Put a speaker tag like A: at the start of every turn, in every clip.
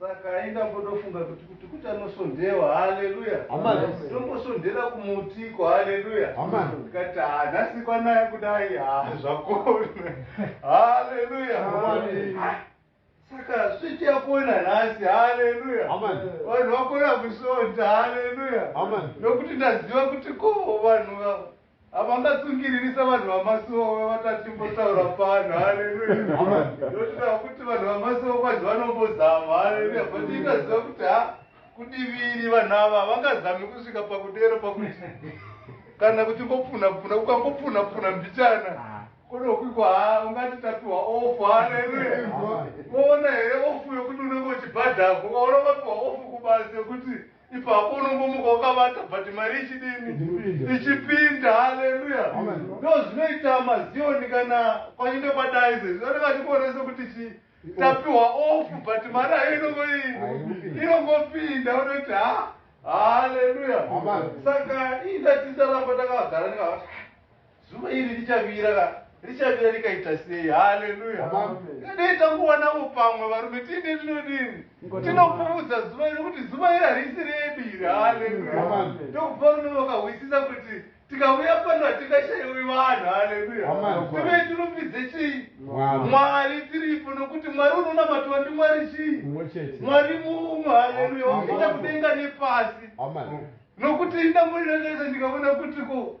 A: Saka ainge ambotofunga kuti kuti kuti anosondewa, haleluya, tombosondera kumutiko, haleluya. Tikati ha nhasi kwanaya kudai, ha zvakona, haleluya. Saka switi yakona nhasi, haleluya, vanhu vakona kusonda, haleluya, nokuti ndaziva kuti ko vanhu Havanga tsungiririsa vanhu vamasuowe vatati mbotaura pano haleluya ndotoda kuti vanhu vamasuowe kwanzi vanombozama haleluya but ikaziva kuti ha kudiviri vanhu ava havangazami kusvika pakudero pakuti kana kuti ngopfunapfuna ukangopfunapfuna mbichana ah. konokwikwa ha ungati tapiwa ofu haleluya woona here ofu yokuti unenge uchibhadhako waona vapiwa ofu kubasa yokuti ipapo unombomuka wakavata but mari ichidini Ichipinda. ichipinda haleluya Amen. ndo zvinoita maziyoni kana kwachinge kwadai izvezvi vanenge vachikuona sekuti chi tapiwa ofu but mari ayo inongo Hainopinda. inongopinda vanoti ha haleluya Amen. saka ii ndatitaramba takagara ndikavati Zuva iri richavira ra richavira rikaita sei haleluya ngadei tanguwanavo pamwe varume tiine tinodini tinopfuudza zuva iri kuti zuva iri harisi redu iri haleluya ndokubva rume vakahwisisa kuti tikauya pano hatingashaiwi vanhu haleluya tive tirumbidze chii mwari tiripo nokuti mwari unonamatiwa ndimwari chii mwari mumwe haleluya wakaita kudenga nepasi nokuti ndamborirakaisa ndikaona kuti ko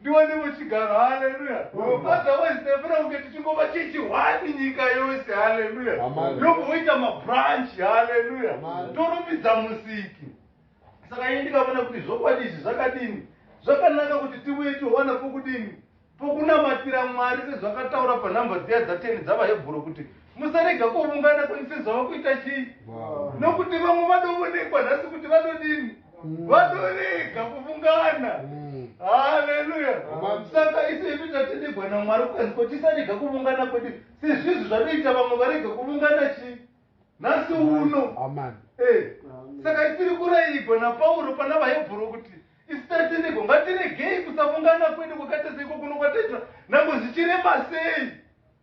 A: Ndiwane muchigaro haleluya otherwise ndafana kunge tichingova chechi one nyika yose haleluya yobva woita mabranch haleluya torumbidza musiki saka ini ndikavona kuti zvokwadi izvi zvakadini zvakanaka kuti tivuye tiwana pokudini pokunamatira mwari sezvakataura panhamba dziya dzateni dzavahebhuro kuti musarega kuvungana kweni sezvava kuita chii nokuti vamwe vadovonekwa nhasi kuti vadodini vatorega kuvungana mm. haleluya saka isu isu tatinigwa namwari kwenzi ko tisarega kuvungana kwedu sezvizvi zvatoita vamwe varega kuvungana chii nhasi uno eh, saka tiri kurayigwa napauro pana vahebhuru kuti isu tatinigwa ngatiregei kusavungana kwedu kwakataseiko kuno kwataitwa nango zvichirema sei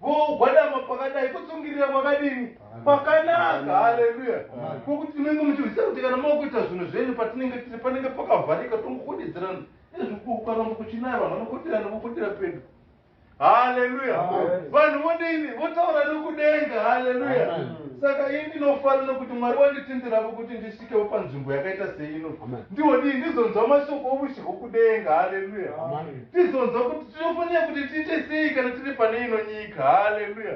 A: Kugwadama kwakadai kutsungirira kwakadini? Kwakanaka. Haleluya. Ko kuti tinenge muchizivisa kuti kana makuita zvinhu zvenyu patinenge tiri panenge pakavharika tongokwedidzirana nezvikukaramba kuchinaya vanhu vanokoterana vokotera pedu. Haleluya. Vanhu vodini? Votaura nokudenga. Haleluya. Saka ini ndinofarira kuti Mwari wanditindirapo kuti ndis itawo panzvimbo yakaita seino ndiwo dii ndizonzwa mashoko oushe hwokudenga haleluya ndizonzwa kuti tinofanira kuti tiite sei kana tiri pane ino nyika haleluya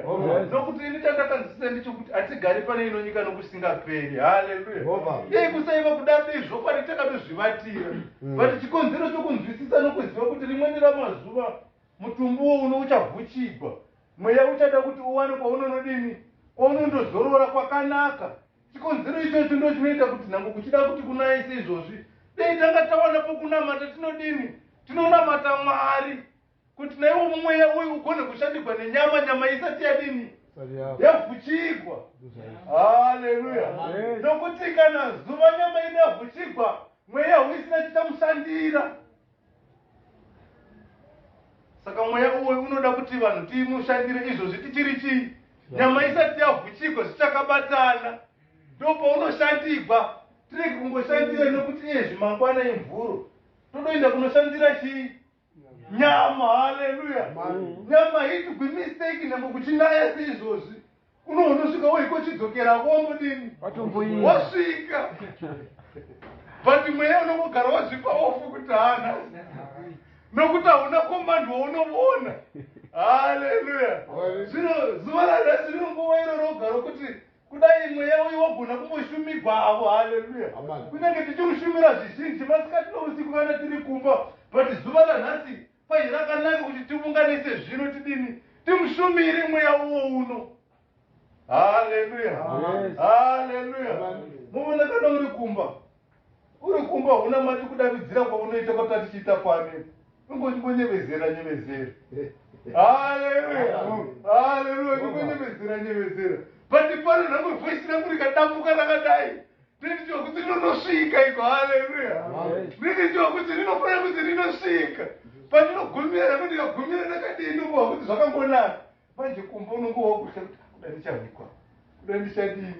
A: nokuti ini chandakanzwisisa ndichokuti hatigari pane ino nyika nokusingaperi haleluya dei kusaiva kuda dei zvokwadi takatozvivatira mm. but chikonzero chokunzwisisa nokuziva kuti rimweni ramazuva mutumbuwo uno uchavhuchigwa mweya uchada kuti uwane kwaunonodini kwaunondozorora kwakanaka Chikonzero ichocho ndochinoita kuti nhango kuchida kuti kunaye seizvozvi, dei tanga tawana pokunamata. Tinodini? Tinonamata Mwari kuti naiwo mumweya uyu ugone kushandigwa nenyama, nyama isati yadini? Yavhuchigwa. Haleluya! Nokuti kana zuva nyama yedu yavhuchigwa, mweya hauisina chichamushandira. saka mweya uwoyu unoda kuti vanhu timushandire izvozvi tichiri chii nyama isati yavhuchigwa zvichakabatana ndo paunoshandigwa tirege kungoshandira nokuti iye zvimangwana imvuro todoenda kunoshandira chii nyama haleluya nyama hitugwi mistake nhengo kuchinaya seizvozvi kuno unosvika woiko chidzokera womudini wasvika but mweya unongogara wazvipa ofu kuti haana nokuti hauna komandi waunoona haleluya zvino zuva ranhasi rino nguva iro roga rokuti kudai mweya uyu wagona kumboshumigwa avo haleluya kunyange tichiushumira zvizhinji masikati nousiku kana tiri kumba but zuva ranhasi Ko zvakanaka kuti tiunganise zvino tidini timushumire mweya uwo uno haleluya haleluya muvona kana uri kumba uri kumba huna mati kudavidzira kwaunoita kwatati chiita kwani ingonyebezera nyevezera haleluya haleluya ingonyebezera nyevezera but pano nhamwe voisi rangu rikadambuka rakadai Ndini ndiwa kuti rinosvika iko, haleluya. Ndini ndiwa kuti rinofanira kuti rinosvika. Pandinogumira nako ndikagumira ndakadii ndikuwa kuti zvakangonaka. Manje kumba unongowa wakutya kuti kuda ndichahwikwa, kuda ndichadini.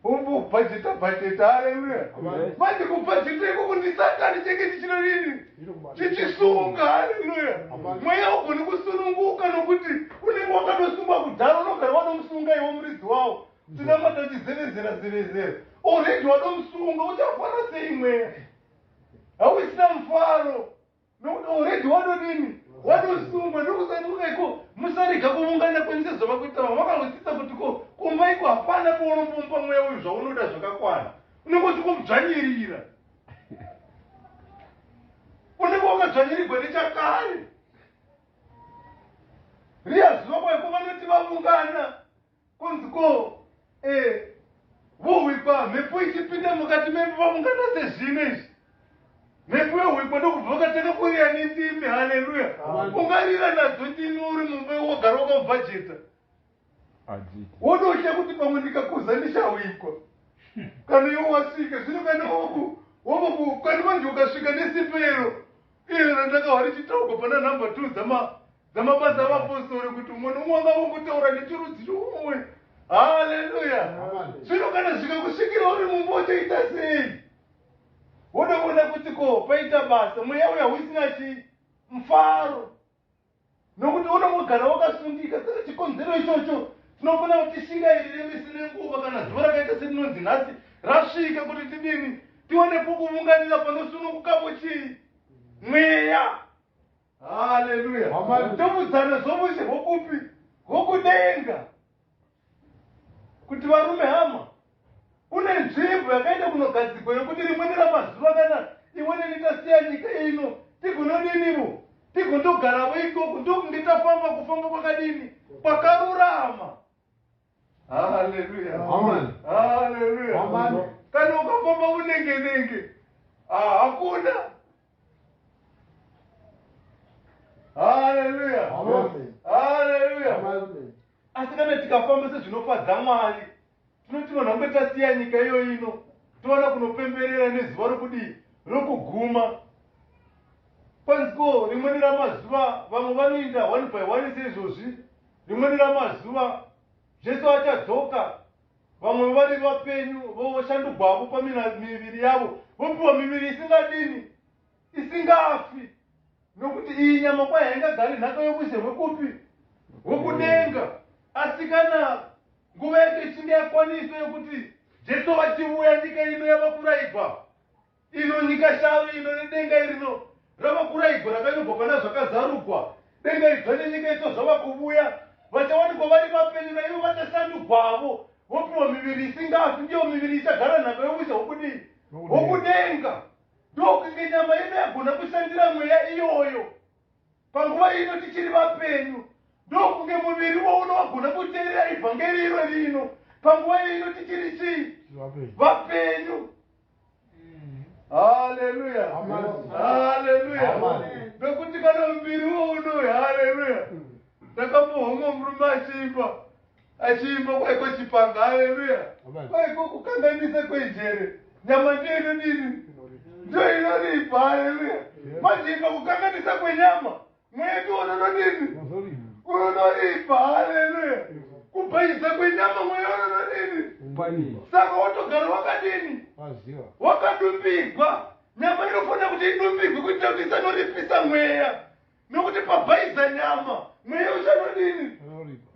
A: Umbobhajeta bhajeta, haleluya. Manje kubhajeta ikoko ndisatani chenge ndichino nini? Chichisunga, haleluya. Mweya ugoni kusununguka nokuti unenge wakatosungwa kudhara unogara wanomusunga iwo muridzi wawo. Tinamata uchizevezera zevezera. Already wadomusunga uchafara sei mweya. Hauisina mufaro. Nokuti already wadodini? Wadosungwa ndokusanduka iko musarega kuvungana kwense zvava kuita vamwe vakahwisisa kuti ko kumba iko hapana paunombomba mweya uyu zvaunoda zvakakwana. Unenge uchikubzvanyirira. Unenge wakadzvanyirigwa nechakare. Riya zuva kwaiko vanoti vavungana Kunzi ko eh, vohwikwa mhepo ichipinda mukati membi vamungana sezvino izvi mhepo yohwikwa ndokubva vakatanga kurira netsimbi haleluya ungarira nadzo ndimi uri mumba wogara wakabhajeta wodosha kuti pamwe ndikakuza ndichahwikwa kana iwo wasvika zvino kana oku wovoku kana manje ukasvika nesipero iro randakahwa richitaugwa pana number two dzama Dzamabasa avapostori kuti umwe nomwe wanga vongotaura nechirudzi chomumwe. Haleluya! Zvino kana zvikakusvikira uri mumba uchaita sei? Woda kuona kuti ko paita basa mweya uya usina chii? Mfaro. Nokuti unongogara wakasundika. Saka chikonzero ichocho tinofana kuti tishingairire misi nenguva kana zuva rakaita serinonzi nhasi rasvika kuti tidini tiwane pokuvunganira panosunungukapo chii? Mweya. haleluya Amen. tomudzana zvomushe hwokupi hwokudenga kuti varume hama kune nzvimbo yakaita kunogadzigwa yokuti rimweni ramazuva kana imweni nitasiya nyika ino tigonodinivo tigondogaravo ikoko ndokunge tafamba kufamba kwakadini kwakarurama Hallelujah. Amen. Hallelujah. Amen. Kana ukafamba unenge nenge. Ah, hakuna. Hallelujah. Amen. Hallelujah. Amen. Asi kana tikafamba sezvinofadza Mwari, tinoti vanhu vange tasiya nyika iyo ino, toona kunopemberera nezuva rokudii rokuguma. Kwanziko rimweni ramazuva vamwe vanoinda one by one seizvozvi Rimweni ramazuva, Jesu achadzoka, vamwe vevari vapenyu voshandugwavo pamiviri yavo, vopiwa miviri isingadini, isingafi, nokuti iyi nyama kwayo haingagari nhaka yokushe hwekupi? Hwekudenga. Asi kana nguva yacho ichinge yakwaniswa yokuti Jesu vachivuya, nyika ino yava kuraigwa, Ino nyika shavi ino nedenga irino ravakura igora kainobva pana zvakazarugwa denga idzva nenyika itso zvava kuvuya vachawanikwa vari vapenyu naivo vachasandugwavo vopiwa miviri isingafi ndiyo miviri ichagara nhaka yousha hwokudii hwokudenga ndokunge nyama yedu yagona kushandira mweya iyoyo Panguva ino tichiri vapenyu, ndokunge muviri wouno wagona kuteerera ivhangeri iro rino. Panguva ino tichiri chii? Vapenyu. Haleluya. Haleluya. Nokuti kana muviri wouno, haleluya. Ndakambohomwa murume achiimba. Achiimba kwaiko chipanga haleluya. Kwaiko kukanganisa kwenjere. Nyama ndiyo inodini? Ndiyo inoripa haleluya. Manje imba kukanganisa kwenyama. Mweya ndiwo unodini? Unoripa haleluya. Kubhayisa kwenyama mweya unodini? Saka wotogara wakadini? Wakadumbigwa. Nyama inofanira kuti idumbigwe kuitira kuti isanoripisa mweya. Nokuti pabhaiza nyama, mweya uchanodini?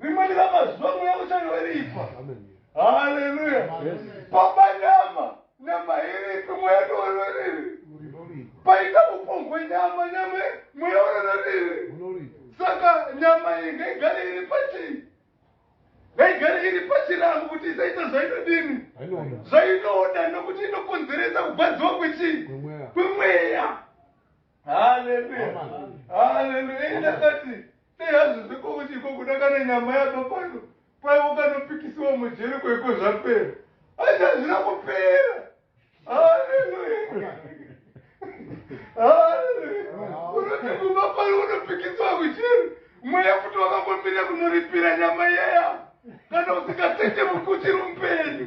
A: Rimweni ramazuva mweya uchanoripa. Haleluya! Paba nyama, nyama iripi mweya ndiwonoriri. Paita upombwe hwenyama, nyama mweya unonoriri. Saka nyama iyi ngaigare iri pachii? Ngaigare iri pachirango kuti isaita zvainodini? Zvainoda nokuti inokonzeresa kugwadziwa kwechii? Kwemweya. haleluya haleluya ini ndakati dei hazvizi kokuti ikoko dakana nyama yabva pano kwaivo kanopikisiwa mujeri kwaiko zvapera asi hazvina kupera haleluya haleluya unoti kubva pano unopikisiwa kujeri mweya futi wakambomira kunoripira nyama yeya kana usingasete mukuchiri mupenyu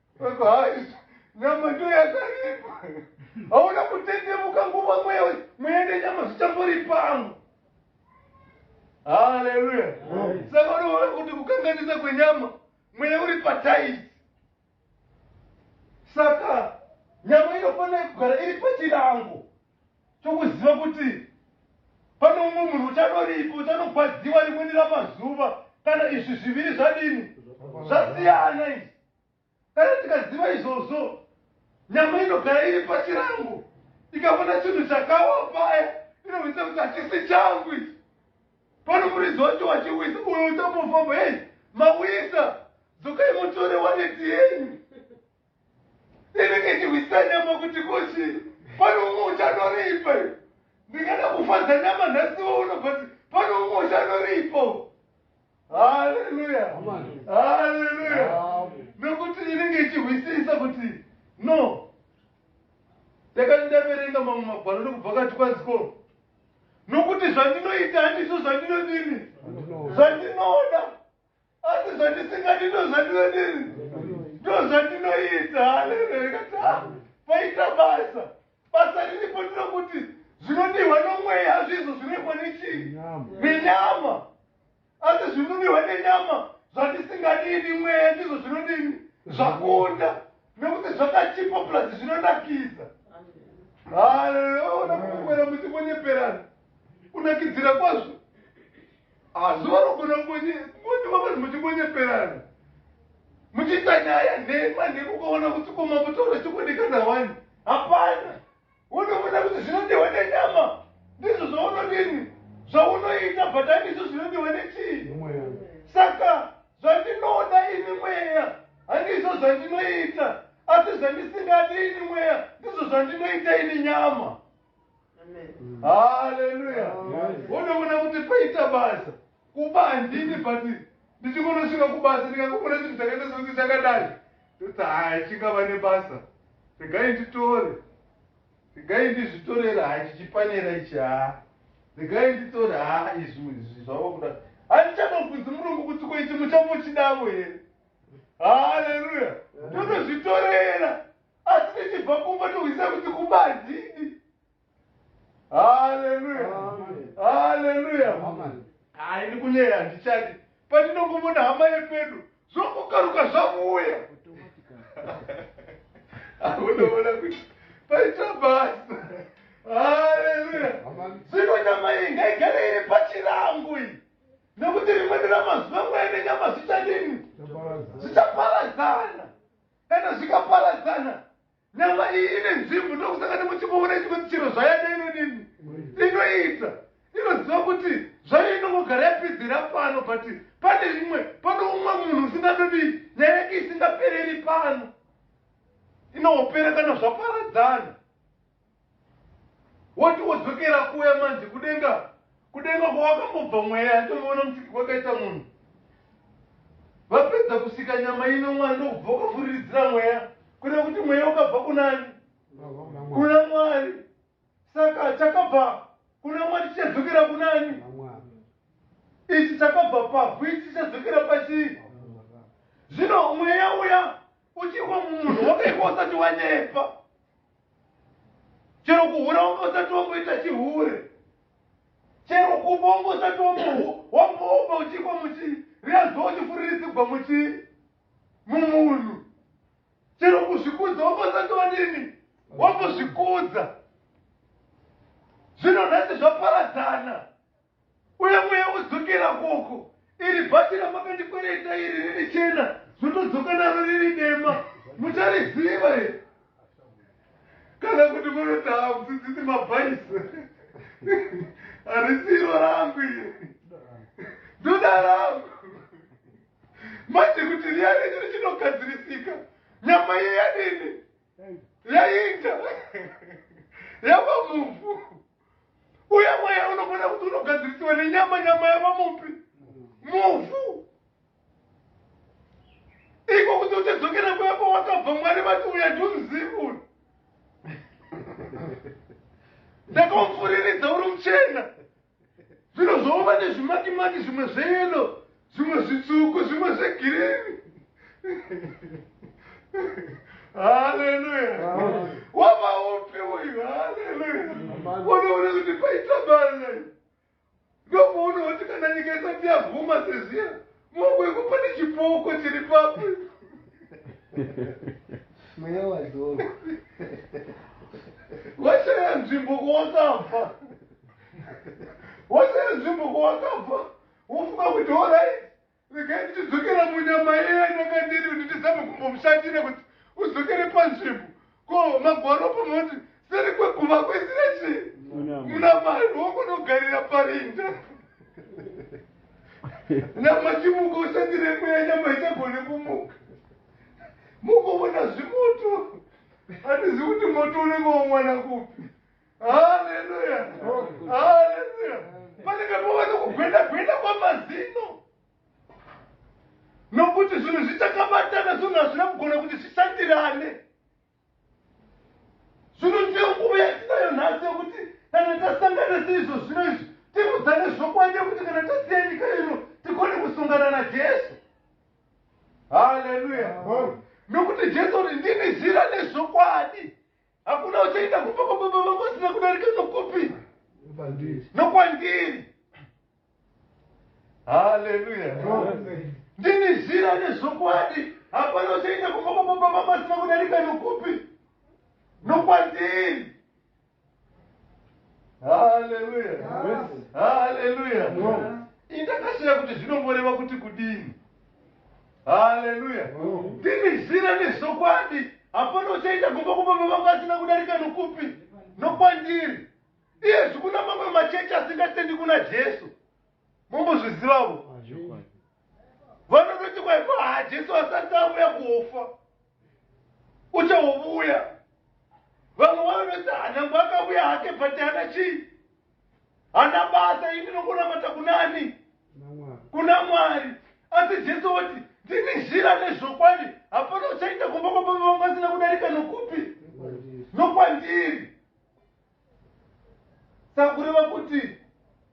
A: Hai, nyama ndiyo yakaripa. Hauna kutendemuka nguva mweya uyu, mweya nenyama zvichamboripangu. Haleluya. Saka unoona kuti kukanganisa kwenyama, mweya uri pataizi. Saka nyama inofanira kugara iri pachirango chokuziva kuti pane umwe munhu uchanoripa, uchanogwadziwa rimweni ramazuva kana izvi zviviri zvadini zvasiyana izvi. Dai ndikaziva izvozvo, nyama inogara iri pachirango ikavona chinhu chakawa paya inovisa kuti hachisi changu ichi. Pano muridzi wacho wachiwisa uyo uchambofamba, hei, mawisa, dzokai mutore waneti yenyu. Inenge ichihwisa nyama kuti kochi, pano umwe uchanoripa. Ndingada kufadza nyama nhasi wouno but pano umwe uchanoripa. haleluya haleluya nokuti inenge ichihwisisa kuti no ndakati ndaverenga mamwe magwaro nekubva kati kwaziko nokuti zvandinoita handiso zvandinodini zvandinoda asi zvandisingadi ndo zvandinodini ndo zvandinoita haleluya ikati ha ah, paita basa basa riripo ndinokuti zvinodiwa nomweya hazvizo zvirekwa nechii nenyama asi zvinunihwa nenyama zvatisingadivi mweya ndizvo zvinodini zvakunda nekuti zvakachipa plus zvinonakidza haleona kukwera muti kunyeperana kunakidzira kwazvo asi vanogona kungondiwa vanhu muchingonyeperana muchiita nyaya nhema nhema ukaona kuti koma mutaura chikudikana wani hapana unoona kuti zvinodiwa nenyama ndizvo zvaunodini zvaunoita but handizvo zvinodiwa nechii saka zvandinoda ini mweya handizvo zvandinoita asi zvandisingadi ini mweya ndizvo zvandinoita ini nyama haleluya unoona kuti paita basa Kumba handidi but ndichingonosvika kubasa ndikangoona chinhu chakaita sekunge chakadai ndoti haya chingava nebasa regai nditore regai ndizvitorera haa chichipanera ichi haa regai nditore haa izvi izvi zvava kuda handichambobvunzi murungu kuti ko ichi muchambochidavo here haleluya ndotozvitorera asi ndichibva kumba tohwisa kuti kumba handidi haleluya haleluya hayi ndikunyeya handichadi pandinongomona hama yepedu zvokukaruka zvakuuya akunoona kuti paita basa haleluya zvino nyama iyi ngaigare iri pachirangu iyi nekuti rimweni ramazuva mweya nenyama zvichadini zvichaparadzana kana zvikaparadzana Nyama iyi ine nzvimbo ndokusaka nemuchimboona ichikuti chero zvayada inodini inoita inoziva kuti zvayo inongogara yapedzera pano but pane imwe pane umwe munhu usingatodii nyaya yake isingapereri pano inopera kana zvaparadzana woti wodzokera kuya manzi kudenga kudenga kwawakambobva mweya yatomboona musiki kwakaita munhu vapedza kusika nyama ino mwari ndokubva ukafuriridzira mweya kuda kuti mweya ukabva kunani kuna mwari saka chakabva kuna mwari chichadzokera kunani ichi chakabva pavhu ichi chichadzokera pachii zvino mweya uya uchiwa mumunhu wakaikwa usati wanyepa chero kuhura wanga usati wamboita chihure chero kupa wanga usati wamboupa uchikwa muchii riyazuva uchifuriritsigwa muchii mumunhu chero kuzvikudza wanga usati wadini wambozvikudza zvino nhasi zvaparadzana Uye mweya wodzokera koko. Iri bhachi ramakandikwereta iri riri chena zvotodzoka naro riri dema. Muchariziva here? Kana kuti munoti hamudzidzisi mabhaisi. Harisi iro rangu iri. Ndoda rangu. Manje kuti riya renyu richinogadzirisika. Nyama iye yadini? yainda yava mumvu uye mweya unogona kuti unogadzirisiwa nenyama nyama yava mupi muvhu iko kuti uchadzokera kuya kwawakabva mwari vati uya ndiuzivi ndakaufuriridza uri muchena Zvinozooma nezvimatimati zvimwe zveyelo, zvimwe zvitsvuku, zvimwe zvegirini. Haleluya. Wamaupi uyu. Haleluya. Unoona kuti paita bana. Ndopoona kuti kana nyika isati yaguma seziya Mugwegwe pane chipoko chiri papi?
B: Mweya wadzorwa.
A: Washaya nzvimbo kwawakabva. Washaya nzvimbo kwawakabva. Wofunga kuti orai regai tichidzokera munyama yeye anakandiri kuti tizame kumbomushandira kuti udzokere panzvimbo. Ko magwaro panoti seri kweguma kwaisira chii? Muna mari wongonogarira parinda. Nyama chimuka ushandire mweya nyama ichagone kumuka. Mukovona zvimoto. Handizivi kuti moto unenge womwana kupi. Haleluya. Haleluya. Panenge pova nokugwenda gwenda kwamazino. nokuti zvinhu zvichakabatana zvinhu hazvina kugona kuti zvishandirane zvino ndiyo nguva yatinayo nhasi yokuti kana tasangana seizvo zvino izvi tirudzane zvokwadi yokuti kana tasiya nyika ino tigone kusungana najesu haleluya nokuti jesu uri ndini zira nezvokwadi Hakuna uchaenda kumba kwababa vangu asina kudarika nokupi? Nokwandiri. Haleluya. Ndini zira nezvokwadi. Hapana uchaenda kumba kwababa vangu asina kudarika nokupi? Nokwandiri. Haleluya. Haleluya. Indakashaya kuti zvinomboreva kuti kudini. haleluya ndini zira nezvokwadi hapana uchaita gomba kupa baba vangu asina kudarika nokupi nokwandiri iye zvikuna mamwe machechi asingatendi kuna jesu mombozvizivavo vanototi kwaipa haa jesu asati avuya kuofa uchaovuya vamwe vanoti hanangu akavuya hake but ana chii hana basa ini nokunamata kunani kuna mwari asi jesu woti ndini zhira nezvokwadi hapana uchaita kumba kwababa vangu asina kudarika nokupi nokwandiri sakureva kuti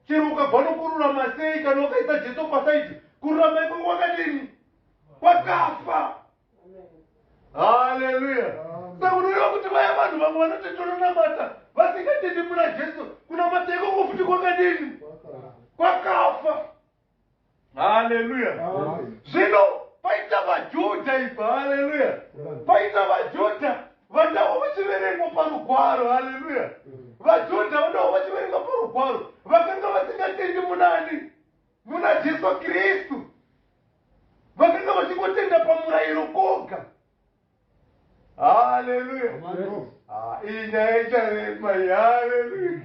A: chero ukabva nokururama sei kana ukaisa jesu pasaidi kururama ikoko kwakadini kwakafa haleluya saka unoreva kuti vaya vanhu vamwe vanoti tononamata vasingatendi muna jesu kunamata ikoko futi kwakadini kwakafa haleluya zvino paita vajudha ipa haleluya paita vajudha vandawo vachiverengwa parugwaro haleluya vajudha vandawo vachiverengwa parugwaro vakanga vasingatendi munani Muna Jesu Kristu, vakanga vachingotenda pamurayiro koga. Haleluya! Ah, iyi nyaya icharema iyi. Haleluya!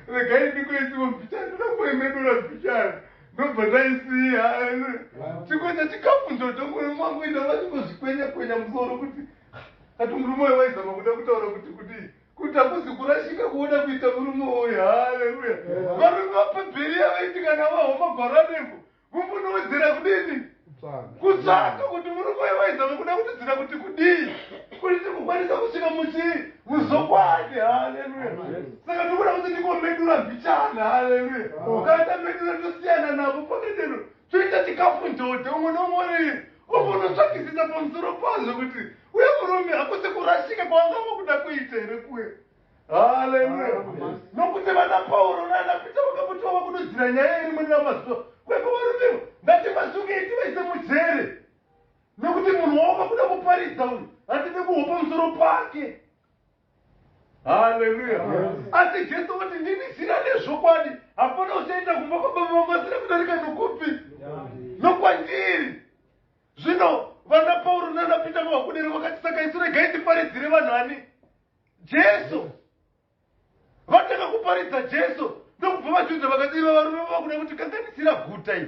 A: Regai ndikuitiwo mbichana, ndoda kuemedura mbichana ndobva ndaisiya. Haleluya! Chimwe chechikafu ndoto murume wangu enda vachingozvikwenya kwenya musoro kuti kati murume uyu waizama kuda kutaura kuti kuti kuti hakuzi kurashika kuoda kuita murume uyu haleluya varume vapabheriya vaiti kana vahoma gwaro anembo mumbunowedzera kudini kutsvaka kuti murume uyu vaizama kuda kutidzira kuti kudii kuti tikukwanisa kusvika muchii muzokwadi haleluya saka tikuda kuti ndikomedura mbichana haleluya kana tamedura tosiyana navo pamedero toita chikafu njodhe umwe nomwe uri umbonotsvakisisa pamusoro pazvo kuti uye murume hakuse kurashika kwanga vakuda kuita here kuye haleluya nokuti vana pauro naana pita vakamboti vava kudodzira nyaya iri mune ramazuva kweko varumevo ngativasungei tivaise mujere nokuti munhu wavo vakuda kuparidza uyu hatide kuhopa musoro pake haleluya asi jesu kuti ndini zina rezvokwadi hapana uchaenda kumba kwababa vangu asina kudarika nokupi nokwandiri zvino vana pauro nana pita mavakudere vakati saka isu regai tiparidzire vanhu ani jesu vatanga kuparidza jesu ndokubva vajudha vakati iva varume vavakuda kuti kanganisira guta iyi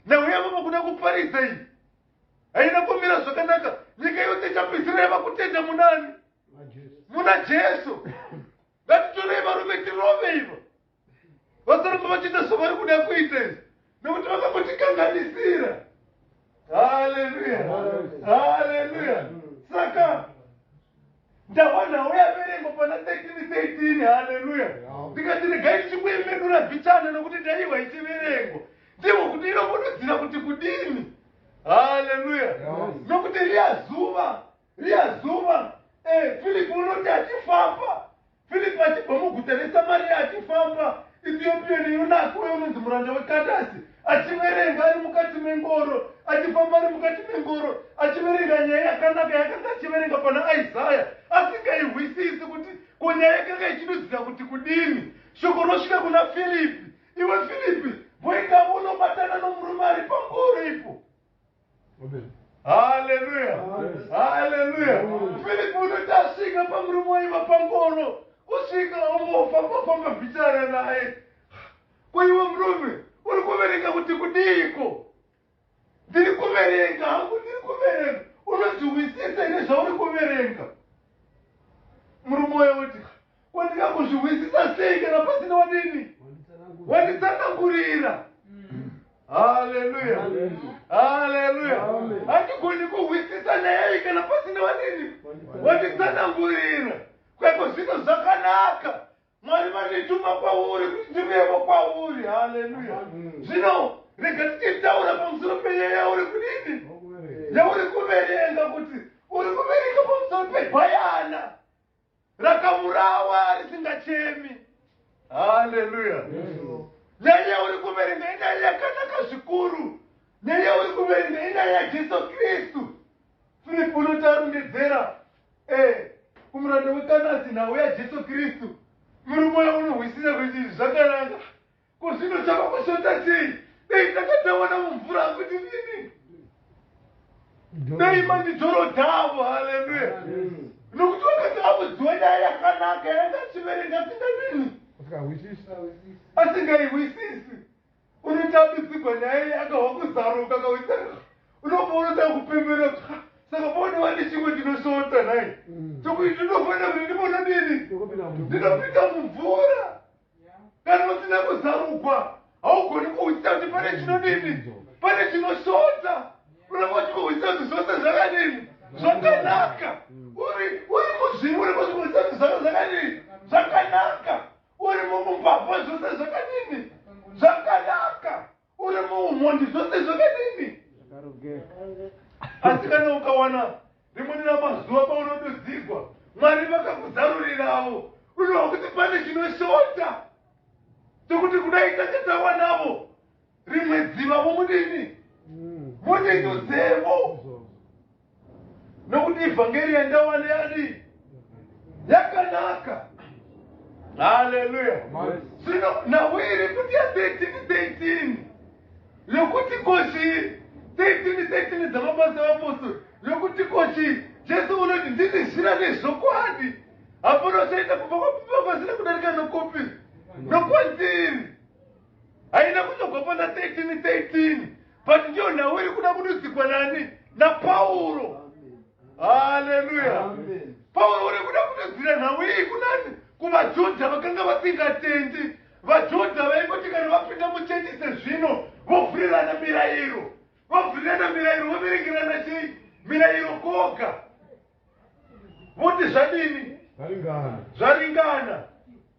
A: nauya vavakuda kuparidza iyi haina kumira zvakanaka nyika yose ichapedzisira yava kutenda munani muna jesu ngatitorei varume tirove ivo vasaramba vachiita zvavari kuda kuita izvi nekuti vakambotikanganisira haleluya haleluya saka ndawanawo yaverengwa pana 1313 haleluya ndikati regai ndichikuemedura bichana nokuti ndaiwa ichiverengwa ndivo kuti inokududzira kuti kudini haleluya nokuti riya zuva riya zuva eh, filipi unoti achifamba Firipi achibva muguta reSamariya achifamba, Itiopiyoni Yunaki uye unonzi muranda weKandasi achiverenga ari mukati mengoro, achifamba ari mukati mengoro, achiverenga nyaya yakanaka yakanga achiverenga pana Isaya, asingaihwisisi kuti ko nyaya yakanga ichidudzira kuti kudini. Shoko rosvika kuna Firipi, Iwe Firipi, mboendawo unobatana nomurume ari pangoro ipo. haleluya haleluya filipi unoti asvika pamurume waiva pangono kusvika ongofamba famba bhichana naye kwaiwe murume uri kuverenga kuti kudiiko ndiri kuverenga hangu ndiri kuverenga unozviwisisa ine zvauri kuverenga murume uyo uti Ko ndingambozvihwisisa sei kana pasina wadini? Wanditsanangurira. Haleluya. Haleluya. Hatigoni kuhwisisa nyaya iyi kana pasina wadini? Wanditsanangurira. Kweko zvino zvakanaka. Mwari vandituma kwauri kuti ndivevo kwauri. Haleluya. Zvino rega tichitaura pamusoro penyaya yauri kudini? Yauri kuverenga kuti uri kuverenga pamusoro pebayana. rakavurawa risingachemi haleluya nyaya uri kuverenga inyaya yakanaka zvikuru nyaya uri kuverenga inyaya yajesu kristu filipi unotarondedzera e eh, kumuranda wekanasi nhau yajesu kristu muri moya unohwisisa kuti zvakananga Ko zvino chava kushota chii? Dei ndakatawana mumvura hangu ndinini. Dei mandidzorodza avo, haleluya. Nokuti vakati avudziwa nyaya yakanaka yaangachiverenga asinganini. Asingaihwisisi. Unotambidzigwa nyaya iyi akahwa kuzaruka akahwisana. Unoponoda kupembera kuti saka pone wani chimwe ndinoshota nhai. Chokuti ndinofanira kuti ndimona nini? Ndinopinda mumvura. Kana usina kuzarugwa haugoni kuhwisisa kuti pane chinodini, pane chinosvota. Unenge uchikuhwisisa kuti zvose zvakadini, zvakanaka. Uri uri muzviri, unenge uchikuhwisisa kuti zvose zvakadini, zvakanaka. Uri mumubhabha, zvose zvakadini, zvakanaka. uri muumhondi zvose zvakadini asi kana ukawana rimweni ramazuva paunodudzigwa mwari vakakuzarurirawo unowa kuti pane chinoshota chokuti kudai tange tawanavo rimwe dziva vomudini mudindudzemo mm. nokuti ivhangeri yandawana yadii yakanaka haleluya zvino nhau iri kuti ya 13 13 yokuti kochii 13 13 dzamabasa evapostori yokuti kochii jesu unoti ndini zira nezvokwadi hapana uchaita kubva kwapipa kwasina kudarika nokupi nokwandiri Haina kuzogopana 13 13 but ndiyo nhau iri kuda kududzikwa nani naPauro. Haleluya. Pauro uri kuda kududzira nhau iyi kunani kuvaJudha vakanga vasingatendi. VaJudha vaingoti kana vapinda muchechi sezvino vovhurirana mirayiro. Vovhurirana mirayiro voverengerana chii? Mirayiro koga. Voti zvadini? Zvaringana. Zvaringana.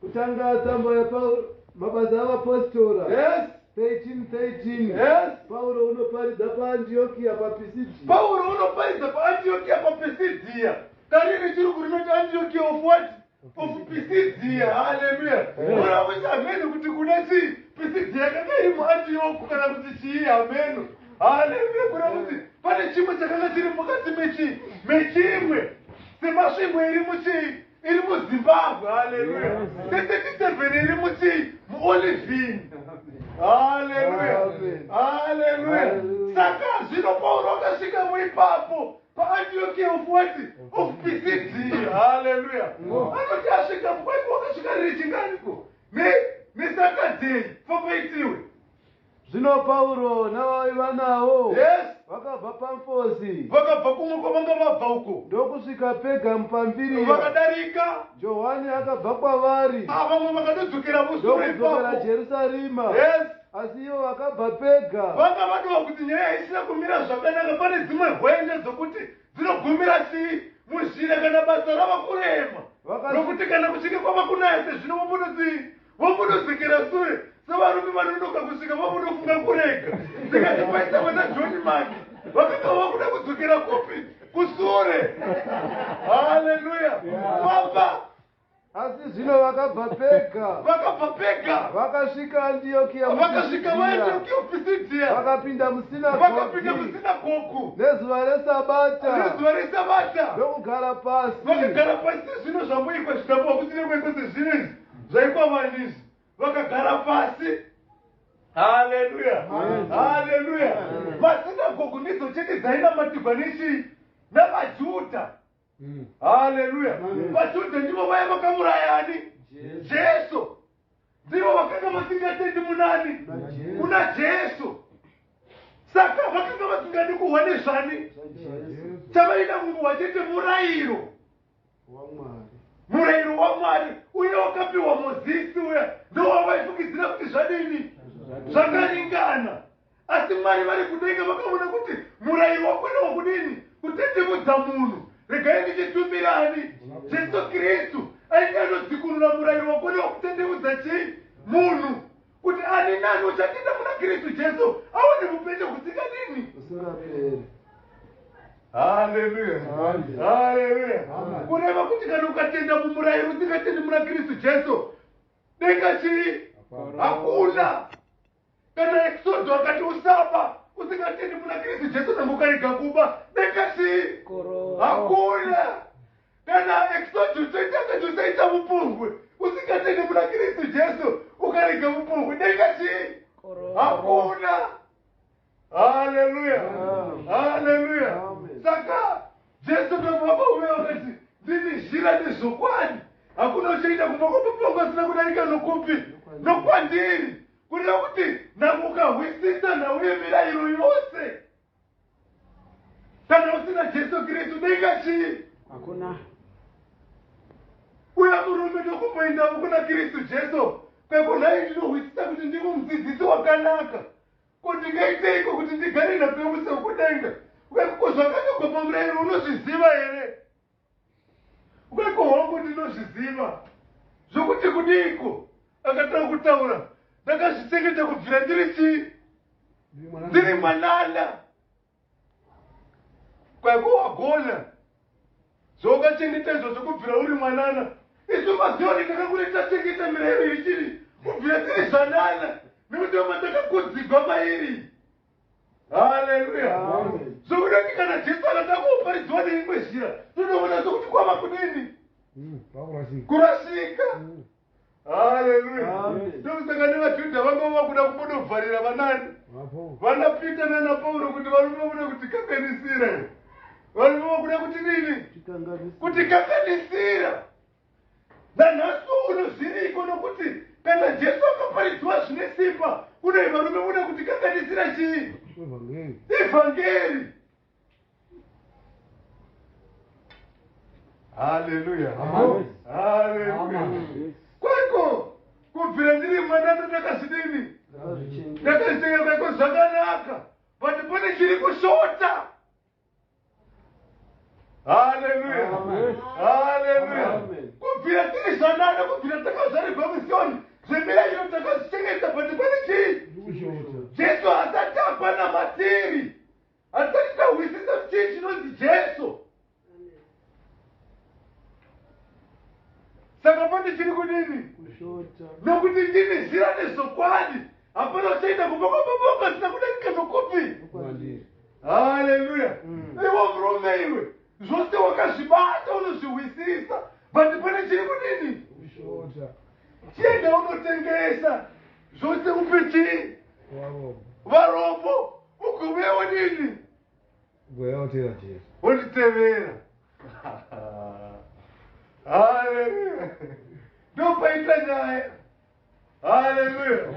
A: Kutanga
B: tsamba yaPauro, Mabasa aVapositora, Yes. 13, 13.
A: Yes.
B: Pauro
A: unoparidza
B: paAndiokia paPisidia. pauro unoparidza
A: paantiokia papisidia kariri chiri kurinoti antiokia of what of pisidia haleluya ona kuti hameno kuti kuna chii pisidia yakanga iri muantioku kana kuti chii hameno haleluya kuna kuti pane chimwe chakanga chiri mukati mechii mechimwe semasvingo iri muchii iri muzimbabwe haleluya tetetisevheni iri muti muolivhini haleluya haleluya saka zvino pauro akasvika muipapo paantioki ofuwati of pcd haleluya anoti asvika mukwaiko wakasvika riringaniko nesakadzei famba itiwe Zvino
B: Pauro navavaiva navo Yes. vakabva
A: Pamfosi
B: Vakabva kumwe kwavanga
A: vabva uko. ndokusvika Pergamu
B: Pamfiriya. Vakadarika.
A: Johani akabva
B: kwavari Ah, vamwe vakatodzokera
A: vosure ndokudzokera ipapo. Jerusarima.
B: Yes. Asi
A: ivo vakabva
B: Pega. Vanga vadova kuti
A: nyaya isina kumira zvakanaka pane dzimwe hwende dzokuti dzinogumira chii muzhira kana basa rava kurema. Vakati- Nokuti kana kuchinge kwava kunaya sezvino vombonodzii vombodozekera sure sevarume vanonoka kusvika vombonofunga kurega ndikati paita vana john maki vakanga vakuda kudzokera kupi kusure haleluya baba
B: asi zvino vakabva pega vakabva pega
A: vakasvika
B: andiyokiya vakasvika vaandiyokiya
A: pisidia vakapinda
B: musinavakapinda
A: musinagogu
B: nezuva resabata nezuva resabata
A: ndokugara pasi
B: vakagara pasi sezvino
A: zvamuikwa zvitambo vakuti nekwekose zvino izvi zvaikwavari ndizvi vakagara pasi haleluya haleluya masinagogu ndidzo chete dzainamatigwa nechii navajudha mm. haleluya vajudha ndivo vaya vakamurayani jesu ndivo vakanga vasingatendi munani kuna jesu saka vakanga vasingadi kuhwa nezvani chavaida kunguhwa chete murayiro waMwari. Murayiro waMwari uye wakapiwa Mozisi uya ndowavaifungidzira kuti zvadini? Zvakaringana. Asi Mwari vari kudenga vakavona kuti murayiro wakona wakudini? Kutetemudza munhu. Regai ndichitumira ani? Jesu Kristu ainge anodzikunura murayiro wakona wakutetemudza chii? Munhu. kuti ani nani uchapinda muna kristu jesu aone mupenyu kusingadini usingaperi haleluya haleluya kureva kuti kana ukatenda mumurayiro usingatendi muna kristu jesu denga chii hakuna kana eksodo akati usaba usingatendi muna kristu jesu nangu ukarega kuba denga chii hakuna Kana exodus toita setosaita vupombwe usingatendi muna Kristu Jesu ukarega vupombwe denga chii? Hakuna. Haleluya. Haleluya. Saka Jesu pamaba uya wakati ndini zhira nezvokwadi hakuna uchaenda kumba kwapapangwa asina kudarika nokupi nokwandiri kureva kuti nhamuka hwisisa nhau yemirayiro yose kana usina jesu kristu denga chii hakuna uya murume ndokumboendavo kuna kristu jesu pekunai ndinohwisisa kuti ndivo mudzidzisi wakanaka ko ndingaiteiko kuti ndigare napemusekudenga wekuko zvakanyogwa pamurayiro unozviziva here Weko hongu ndinozviziva zvokuti kudiiko akatanga kutaura ndakazvichengeta kubvira ndiri chii ndiri mwanana kwaiko wagona zvaukachengeta izvo zvokubvira uri mwanana isu mazioni takakure tachengeta mirayiro ichiri kubvira tiri zvanana nekuti vamwe takakudzigwa mairi haleluya zvokuda kuti kana jesu akada kuparidziwa neimwe zhira tinoona sokuti kwava kudini hmm, kurasika hmm. haleluya ndokusaka nevajudha vanga vakuda kumbodovharira vanani vana pita nana pauro kuti varume vakuda kutikanganisira varume vakuda kuti nini kutikanganisira nanhasi uno zviriko nokuti kana jesu akaparidziwa zvine simba kunei varume muda kuti kanganisira chii ivhangeri haleluya kwaiko kubvira ndiri mwana ndandakazvidini ndakazvitenga kwaiko zvakanaka but pane chiri kushota haleluya haleluya kubvira tiri zvanana kubvira takazvarirwa musioni zvemirairo takazvichengeta but pane chii jesu hasati apana matiri hasati tahwisisa chii chinonzi jesu saka pane chiri kudini nokuti ndini zira nezvokwadi hapana uchaita kubokoboboka zina kudarika zvokupi haleluya mm. iwo murume iwe zvose wakazvibata unozvihwisisa but pane chiri kudini chienda unotengesa zvose upe chii varombo ugovewo nini wonditevera haleluya ndopaita nyaya haleluya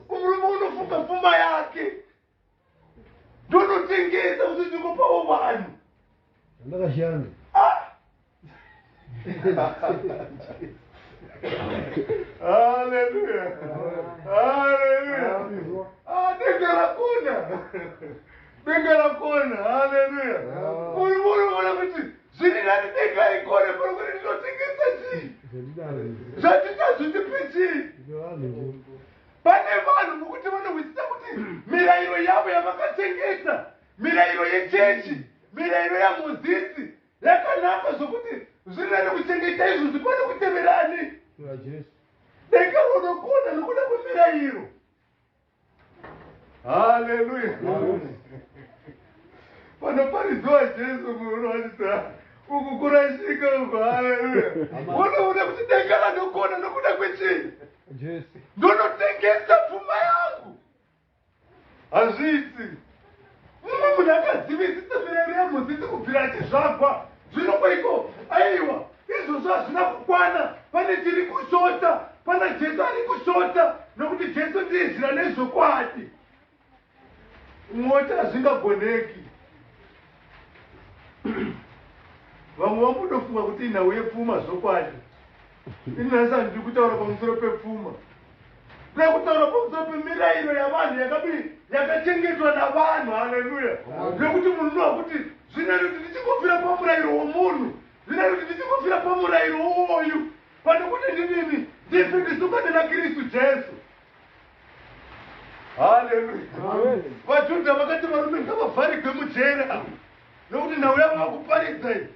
A: murume unofunga pfuma yake ndonotengesa kuti ndingopawo vanhu ndakashanda
B: ah!
A: Hallelujah. Hallelujah. Ah, denga rakona. Denga rakona. Hallelujah. Muri muri muri kuti zviri nani denga ikone muri kuti ndinotengesa chii? Zvandita zvitipi chii? Pane vanhu mukuti vanohwisisa kuti mirayiro yavo yavakatengesa, mirayiro yechechi, mirayiro yaMozisi, yakanaka zvokuti zviri nani kuchengeta izvozvi pane kutevera ani dekaronokonda nokuda kwemirayiro haleluya panoparidziwa jesu munowanisa uku kurashika uku haleluya unoona kuti denga ranokona nokuda kwechii
B: ndonotengesa
A: pfuma yangu hazviiti mumwe munhu akazivisisa mirero yemudzidzi kubvira achizvagwa zvino kwaiko aiwa izvozvo hazvina kukwana pane chiri kushota pana jesu ari kushota nokuti jesu ndiye zira nezvokwadi moti hazvingagoneki vamwe vakutofunga kuti inhau yepfuma zvokwadi ini nhasi handidi kutaura pamusoro pepfuma nda kutaura pamusoro pemirayiro yavanhu yakadii yakachengetwa navanhu haleluya nekuti munhu unoa kuti zvina kuti ndichikufira pamurayiro womunhu zvina kuti ndichikufira pamurayiro wowoyu pane kuti ndinini ndife ndisukane nakristu jesu haleluya vajudha vakati varume ngavavharigwe mujere ava nokuti nhau yavo vakuparidza i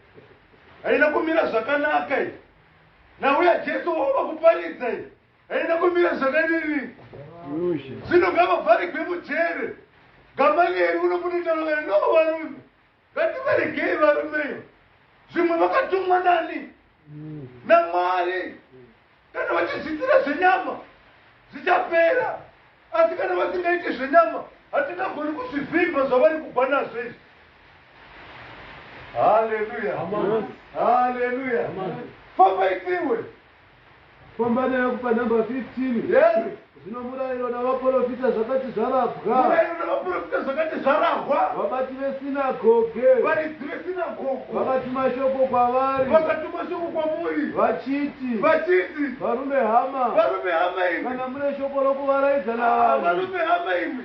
A: haina kumira zvakanaka i nhau yajesu wavo vakuparidza i haina kumira zvakadini zvino ngavavharigwe mujere gamalieri unokuti ndalova no varume Ngativaregei varume iyo zvimwe vakatumwa nani namwari kana vachizviitira zvenyama zvichapera asi kana vasingaiti zvenyama hatingagoni kuzvivimba zvavari kubva nazvo izvi haleluya haleluya fambai tiwe
B: Fambani hangu panumber 15. Yes. Zvino
A: murayiro
B: navaporofita zvakati zvarabwa. Murayiro navaporofita
A: zvakati zvarahwa. Vabati vesinagoge.
B: Varidzi
A: vesinagogo. Vakatuma shoko
B: kwavari. Vakatuma shoko
A: kwamuri. Vachiti.
B: Vachiti. Varume hama. Varume hama imi. Kana mune
A: shoko
B: rokuvaraidza navanhu. Varume hama imi.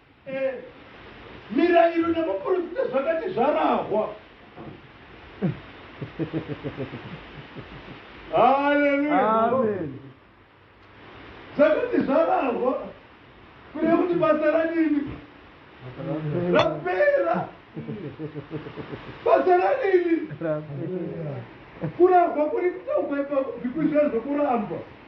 A: Mirairo namaporofita zvakati zvarahwa. Haleluya. Zvakati zvarahwa kureva kuti basa ranini rapera. Basa ranini kurahwa kuri kutaurwa ipapo bhiku izvo zvokurambwa.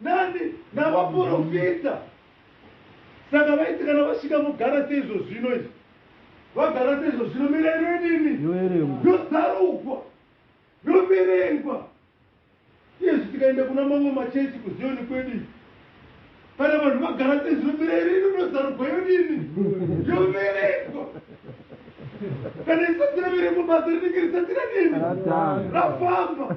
A: Nani? Navaporofita. Saka vaiti kana vasvika mogara seizvo zvino izvi.
B: Vagara seizvo zvino mirayiro yedini? Yoerengwa. Yozarugwa. Yoverengwa. Iyezvi tikaenda kuna mamwe machechi kuziyoni kwedu izvi. Kana vanhu vagara seizvo mirayiro yedu inozarugwa yodini? Yoverengwa. Kana isati raverengwa basa rinenge risati radini? Ratanga. Rafamba.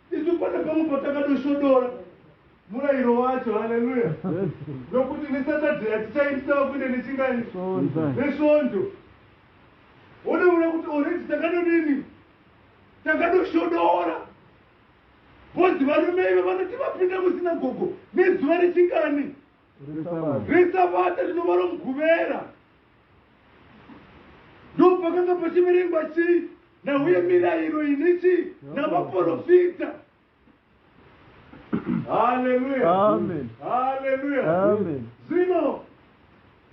B: Isu pane pamwe patakadosvodora murayiro wacho, haleluya, nokuti neSaturday hatichaitisa kuenda nechingani nesvondo. Wonoona kuti already takadodini, takadosvodora bhozi varume ivo vanoti vapinda musinagogo nezuva rechingani resabata rinova romuguvera ndopakanga pachiverengwa chii nauye mirayiro ine chii navaprofita haleluya haleluya zvino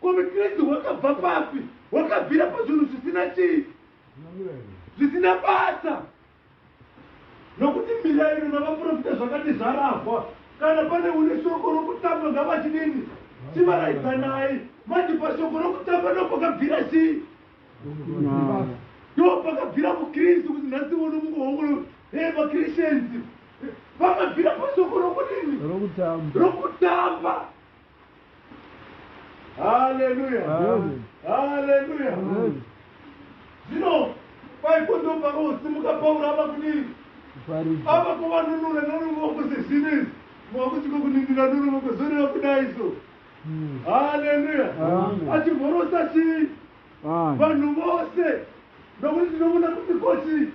B: Ko Vekristu hwakabva papi? Hwakabvira pazvinhu zvisina chii? Zvisina basa. Nokuti mirairo navaprofita zvakati zvarahwa. Kana pane une shoko rokutamba ngavachidini? Chivaraidzanai. Manje pashoko rokutamba ndopakabvira chii? Ndopakabvira Mukristu kuti nhasi uno mukuhongolo hey, vaChristians vakabvira pashoko rokudini? Rokutamba. Rokutamba. haleluya haleluya zvino paipo ndo pakosimuka pauro ava kudii ava kuvanunura noruvoko sezvinezi mwakuti kokunindira noruvoko zoreva kudai so hmm. haleluya achivhorosa chii vanhu vose nokuti tinoona kuti kochii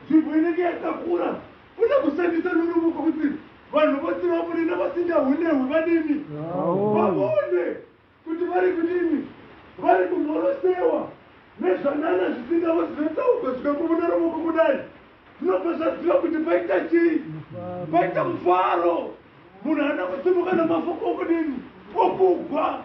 B: nzvimbo inenge yakakura Kuda kushandisa norumwe kwokuti vanhu vose vapore navasingahunehwi vadini? Vavone kuti vari kudini? Vari kumhorosewa nezvanana zvisingavo zvinotsaurwa zvikakuvuna rovoko kudai. Zvinobva zvaziva kuti paita chii? Paita mufaro. Munhu haana kusimuka namafoko okudini? Okugwa.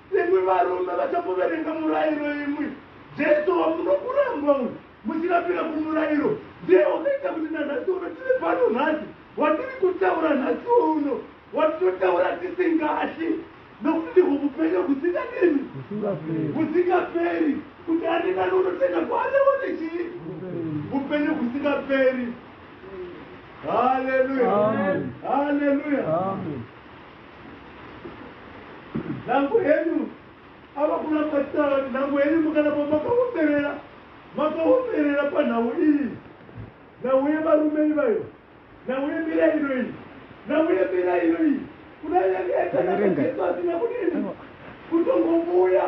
B: Imwi varume vachakuverenga murairo imwi, Jesu wamunokuramba uyu muchirambira kumurairo ndiye wakaita kuti nanhasi uno tiri pano nhasi, watiri kutaura nhasiwo uno, watinotaura tisingatyi nokuti ndihwo vupenyu husingadini, husingaperi, kuti ani nani unotenda kwaari aone chii? Vupenyu husingaperi. Haleluya, haleluya. Nhango henyu ava kuna Matsara, nhango henyu mukanapa makaomberera, makaomberera panhau iyi, nhau yevarume ivayo, nhau yemira ino iyi, nhau yemira ino iyi, kudai yanga yatanaka Jesu asina kudini kutongovuya.